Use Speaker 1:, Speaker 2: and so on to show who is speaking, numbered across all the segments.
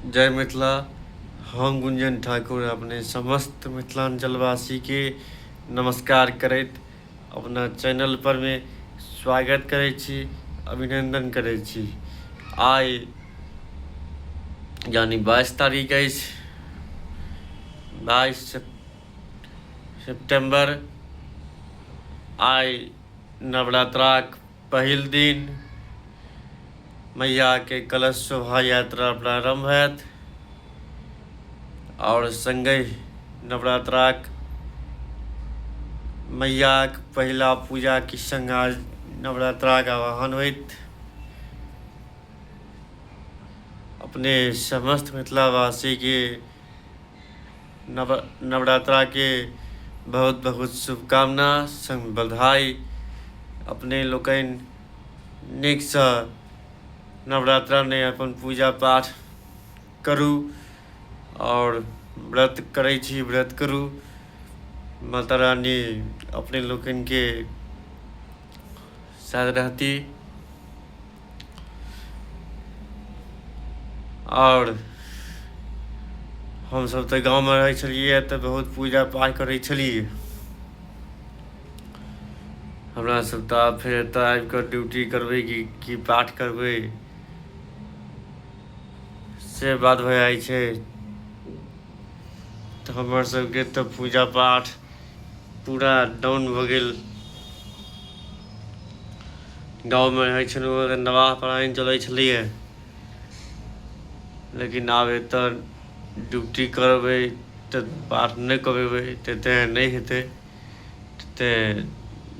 Speaker 1: जय मिथिला हम गुंजन ठाकुर अपने समस्त मिथिलांचलवासी के नमस्कार करैत अपना चैनल पर मे स्वागत करै छी अभिनंदन करै छी आइ यानी बाईस तारीख अछि बाईस सेप्टेम्बर आइ नवरात्राक पहिल दिन मैयाके कलश शोभा यात्रा प्रारम्भ होयत आओर सङ्गे नवरात्राक मैयाक पहिला पूजाके सङ्ग आज नवरात्राक आवाहन होइत अपने समस्त मिथिलावासीके नव नवरात्रा के बहुत बहुत शुभकामना संग बधाई अपने लोकनि नीकसँ नवरात्रा नहि अपन पूजा पाठ करू आओर व्रत करै छी व्रत करू माता रानी अपने लोकनिके साथ रहती आओर हमसभ तऽ गाँवमे रहै छलियै तऽ बहुत पूजा पाठ करै छलियै हमरा सभ तऽ आब फेर एतय आबि कऽ ड्यूटी करबै कि की पाठ करबै से बात भए जाइ छै तऽ हमर सभके तऽ पूजा पाठ पूरा डाउन भऽ गेल गाँवमे रहै छलहुँ तऽ नवाह परायण चलै छलैए लेकिन आब एतऽ ड्यूटी करबै तऽ पाठ नहि करेबै तऽ तेँ नहि हेतै तेँ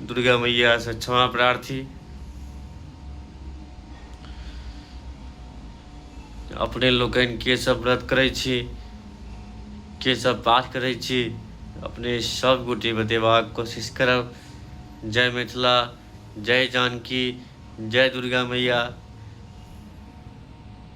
Speaker 1: दुर्गा मैयासँ क्षमा प्रार्थी अपने लोकनि के सब व्रत करै छी के सब पाठ करै छी अपने सब गोटे बतेबाक कोशिश करब जय मिथिला जय जानकी जय दुर्गा मैया